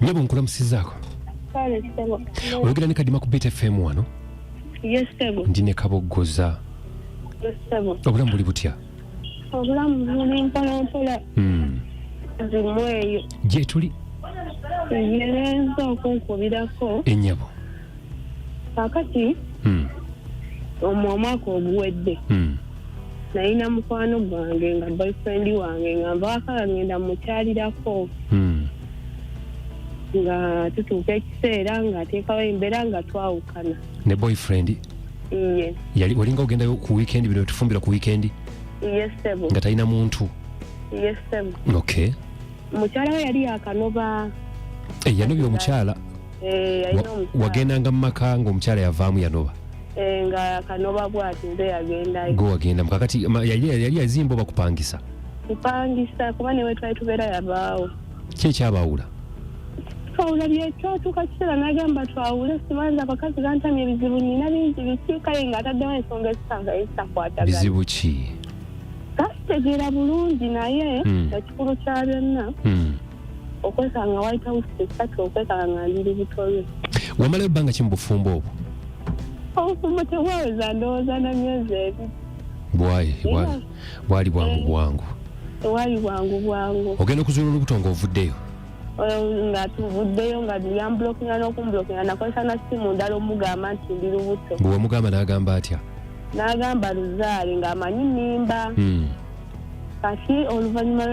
nyabo nkulamusizaako Kale ssebo. oyogera ne kadima ku beat fm wano Yes ssebo. ndi ne kaboggoza Yes ssebo. obulamu buli butya Obulamu buli mpolampola Mm. zimweyo. gyetuli Ngenza okunkubirako enyabo kakati Mm. omwo omwaka oguwedde Mm. nalina mukwano gwange nga boyfriend wange nga nvaakala ngenda mukyalirako hmm. nga tutuuka ekiseera nga ateekawo embeera nga twawukana ne boyfriend iye yali olinga ogendayo ku weekend bino tufumbira ku weekend iye sebo nga talina muntu iye sebo okay mukyala we yali yakanoba eh, yanobya omukyala Eh, yalina Wa- omukyala wagendanga mu maka ng'omukyala yavaamu yanoba Eh, nga kanoba bwati nze yagendayo gwe wagenda mukakati ma- yali yali yazimba oba kupangisa kupangisa kuba newe twali tubeera yabaawo ki ekyabaawula twawula byekyatuuka kiseera nagamba twawule sibanza abakazi gantamya ebizibu nina bingi biki kale nga ataddewo ensonga ezisanga ezitakwatagana bizibu ki kasitegeera bulungi naye Mm. ekikulu kya byonna Mm. okwekanga white house esatu okwekanga nga ndi lubutolwe wamalayo bbanga ki mu bufumbo obwo obufumbo tebwaweza ndowooza na myezi ebiri bwayi bwali bwangu eh. bwangu tewali bwangu bwangu ogenda okuzuula olubuto nga ovuddeyo nga tuvuddeyo nga yambulokinga n'okumbulokinga nakozesa na simu ndala omugamba nti ndi lubuto bwe wamugamba n'agamba atya n'agamba luzaale ng'amanyi nimba hmm. kati oluvannyuma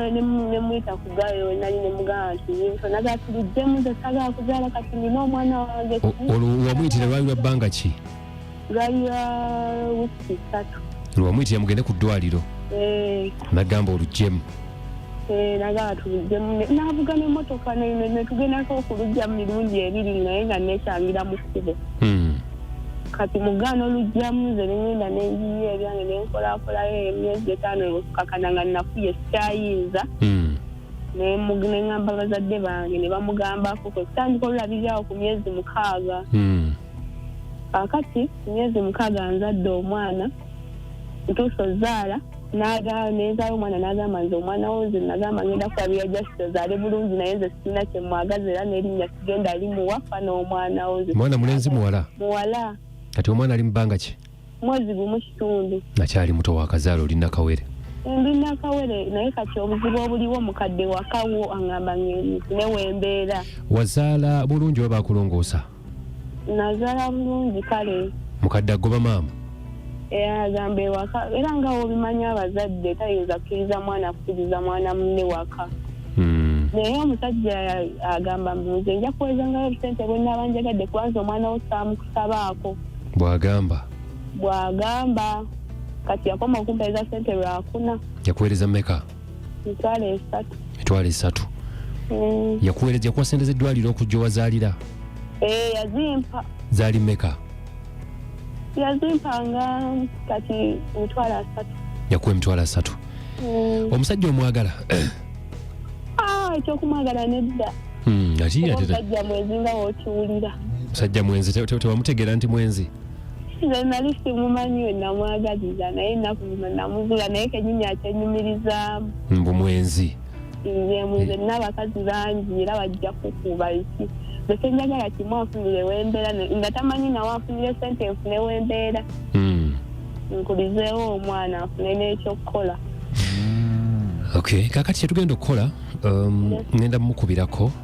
nemuyita ku gayo nali nemugamba nti nagala tuliddemu nze sagala kuzaala kati nina omwana wange olwo wamuyitira lwali lwa bbanga ki lwali lwa wiki satu lwewamuyitira mugende ku ddwaliro eh. nagamba olugyemu eh, nagamba tuliddemu navuga nemotoka netugendako okulugya mu mirundi ebiri naye nga nekyangira mu kkubo hmm. kati mugaana olugyamu nze nengenda nenjiyo ebyange nenkolakolayo emyezi etaano ekukakana nga nafuye sikyayinza hmm. nengamba bazadde bange nebamugambako kwekutandika olulabirirawo ku myezi mukaaga hmm. kakati myezi mukaaga nzadde omwana ntuusa ozaala nezaala omwana n'agamba nze omwana wo nze nagamba ngenda kusabira just ozaale bulungi naye nze sirina kyemwagaza era n'erinnya sigenda limuwa fa n'omwana wo nze mwana mulenzi muwala muwala kati omwana ali mu bbanga ki mwezi gumu kitundu nakyali muto wakazaala oli nakawere ndi nakawere naye kati obuzibu obuliwo mukadde wakawo angamba nge newembeera wazaala bulungi oba bakulongoosa nazala bulungi kale mukadde agoba maama agamba ewaka era nga wobimanyi abazadde tayinza kukkiriza mwana kukkiriza mwana munne waka hmm. naye omusajja agamba nze nja kuwezangayo obusente bwenaaba njagadde kubanza omwana wo saamukusabaako bwagamba bwagamba kati yakoma okumpereza sente lwakuna yakuwereza meka mitwalo esatu mm. yakuweereza yakuwa sente z'eddwaliro okujja owazaalira eh, yazimpa zaali meka yazimpanga kati emitwalo asatu yakuwa emitwalo asatu mm. omusajja omwagala ah, ekyokumwagala nedda hmm, musajja mwenzi nga wokiwulira musajja mwenzi tewamutegeera nti mwenzi nze nali simumanyi we namwagaliza naye ennaku zino namugula naye kenyini akyenyumirizaamu mbu mwenzi nze mwenze nina abakazi bangi era bajja kukuba eki besenjagala kimu anfunire wembeera nga tamanyi nawe anfunire sente enfune wembeera hmm. nkulizeewo omwana afune n'ekyokukola hmm. ok kakati kyetugenda okukola um, ngenda mukubirako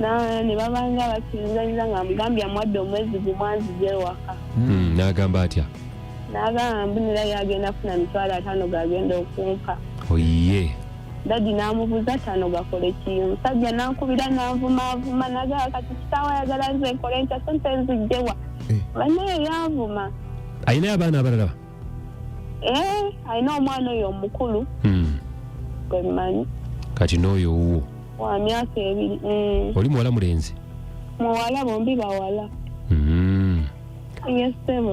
Na- ne babanga basinzanyiza nga mugambye amuwadde omwezi gumu anzija ewaka Mm, n'agamba atya n'agamba mbunira yagenda kufuna mitwalo ataano gagenda okumpa oyiye dadi n'amubuuza ataano gakole ki omusajja n'ankubira n'anvumaavuma nagamba kati kitaawa ayagala nze nkole ntya sente nzijjewa Eh. banaye yanvuma alinayo abaana abalala Eh, alina omwana oyo omukulu Mm. gwe mmanyi kati n'oyo owuwo wa myaka ebiri eh, oli muwala mulenzi muwala bombi bawala Mm. ye ssebo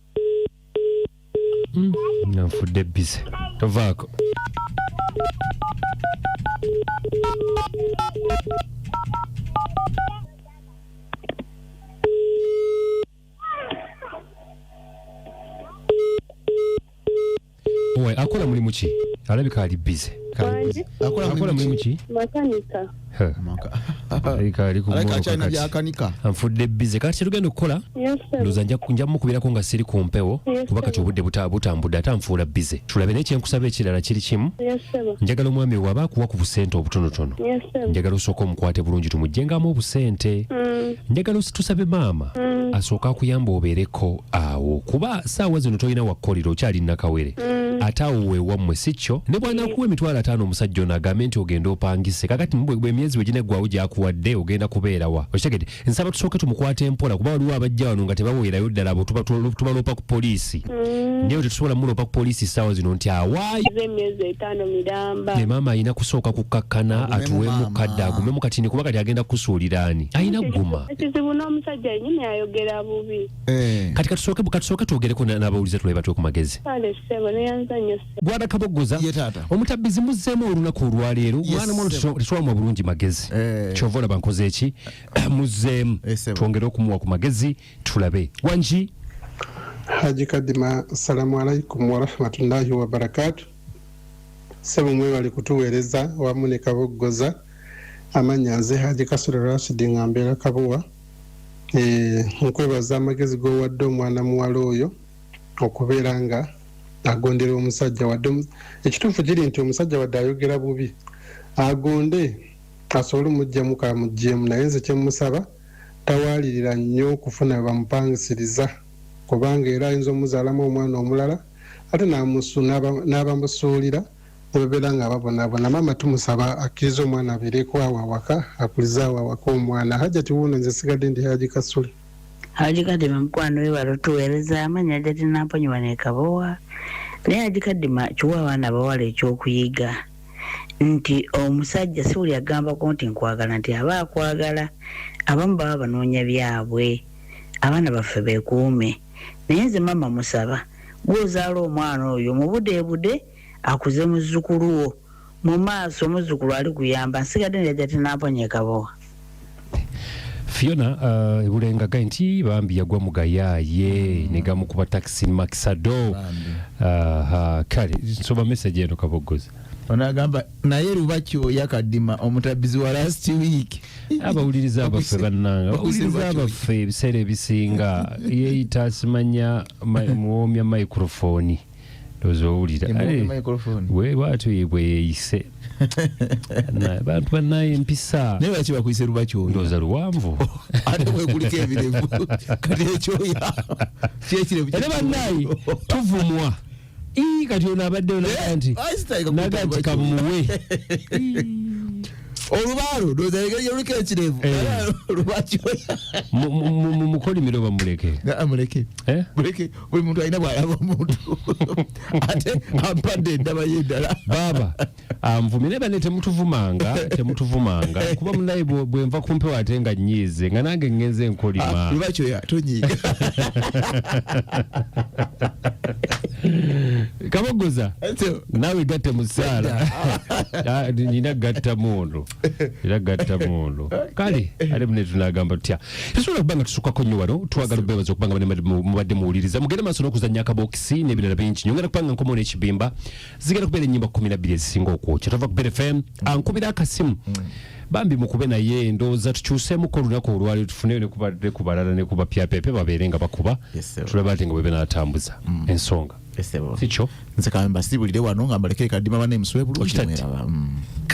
nga nfudde bize tovaako owe akola mulimu ki alabika ali bize akola mulimu ki anfudde bize kati kyetugenda okukola ndoza nja mukubirako nga siri ku mpewo kuba kati obudde butambudde ate anfuula bize tulabe naye kyenkusaba ekirala kiri kimu njagala omwami waba akuwa ku busente obutonotono njagala osooka omukwate bulungi tumugyengamu obusente mm. njagala tusabe maama mm. asooke akuyamba obeereko awo kuba saawa zino tolina wakkolera okyali nakawere mm. ate awo wewammwe si kyo ne bwanakuwa emitwalo ataano omusajja ono agambe nti ogenda opangise kakati emyezi wegineggwawo gyakuwadde ogenda kubeerawa okitegede nsaba tusooke tumukwate mpola kuba waliwo abajja wano nga tebaweerayo ddala abo tubaloopa ku poliisi mm. naye tetusobola muloopa ku poliisi saawa zino nti awaayo maama alina kusooka kukkakkana atuweemu kadde agumemu katini kuba kati agenda kukusuulira ani alina guma ekizibu n'omusajja yenyini ayogera bubi eh. kati katusooke katusooke twogereko n'abawulize tulabe batwe ku magezi kale ssebo neyanza nnyo ssebo gwada kaboggoza ye taata omutabbizi muzzeemu olunaku olwaleero mwana mwana tetuwamu bulungi magezi eh. kyova olaba nkoze eki muzzeemu eh, twongere okumuwa ku magezi tulabe wangi haji kadima assalamu alaikum warahmatullahi wabarakatu Ssebo mwebale kutuweereza wamu ne Kaboggoza. Amannya nze Haji Kasule Rashid nga mbeera Kabowa. Eh, nkwebaza amagezi g'owadde omwana muwala oyo okubeera nga agondera omusajja wadde ekituufu kiri nti omusajja wadde ayogera bubi agonde asobole omugjamu kamuggyemu naye nze kyemusaba tawaalirira nnyo okufuna bamupangisiriza kubanga era ayinza omuzaalamu omwana omulala ate n'abamusuulira ne babeera nga babonabona maama tumusaba akkiriza omwana abeereko awo awaka akulize awo awaka omwana hajati wuuno nze sigadde ndi haji kasule haji kadima mukwano we wali otuweereza amanyi hajati namponyiwa nekabowa naye haji kadima kiwa abaana bawala ekyokuyiga nti omusajja si buli agambako nti nkwagala nti aba akwagala abamu baba banoonya byabwe abaana baffe bekuume naye nze mama musaba gwe ozaala omwana oyo mubudebude akuze muzukulu wo mumaaso omuzukulu ali kuyamba nsigadde nejaja tenamponya ekabowa Fiona uh, ebulenga gai nti bambi yagwa mugayaye mm. negamukuba taxi maxado uh, uh, kale nsoba message eno kabogoza onagamba naye lubaki oya kadima omutabbizi wa last week abawuliriza abaffe bannanga abawuliriza abaffe ebiseera ebisinga yeeyita asimanya muwoomya microfoni ndowooza owulira bwatyo yebwe yeeyise bantu banaye empisa naye lwaki bakuyise lubakyoyo ndoza luwanvu ate wekuliko ebirevu kati ekyoya kyekirevu era banaye tuvumwa ii kati ono abadde eh, nti nagati kamuwe olubaalo ndoza engeri yoliko ekirevu eh. lwakimukolimiro bamuleke ah, muleke eh? muleke buli muntu alina bwalaba omuntu ate ampadde endaba y'eddala baaba anvumye naye bane temutuvumanga temutuvumanga kuba munaye bwenva kumpewo ate nga nyiize nga nange ngenze nkolima ah, lwakyoya tonyiiga kabogoza nawe gatte musaala ah, nina gatta mundu era gatta mundu kale ate mune tunagamba tutya tusobola okuba nga tusukako nnyo wano twagala bebaza okuba nga mubadde muwuliriza mugende maaso n'okuzannya akabokisi n'ebirala bingi nyongera kubanga nkomawo n'ekibimba zigenda kubeera ennyimba kumi na bbiri ezisinga okwokya tova ku BFM ankubira akasimu bambi mukube naye ndowooza tukyuseemuko olunaku olwali tufune ne ku balala ne ku bapyapepe babeere nga bakuba tulaba ate nga bwebe n'atambuza mm. ensonga sikyo nze kamba sibuulire wano nga mbalekere kadima bana emuswebulu okitadde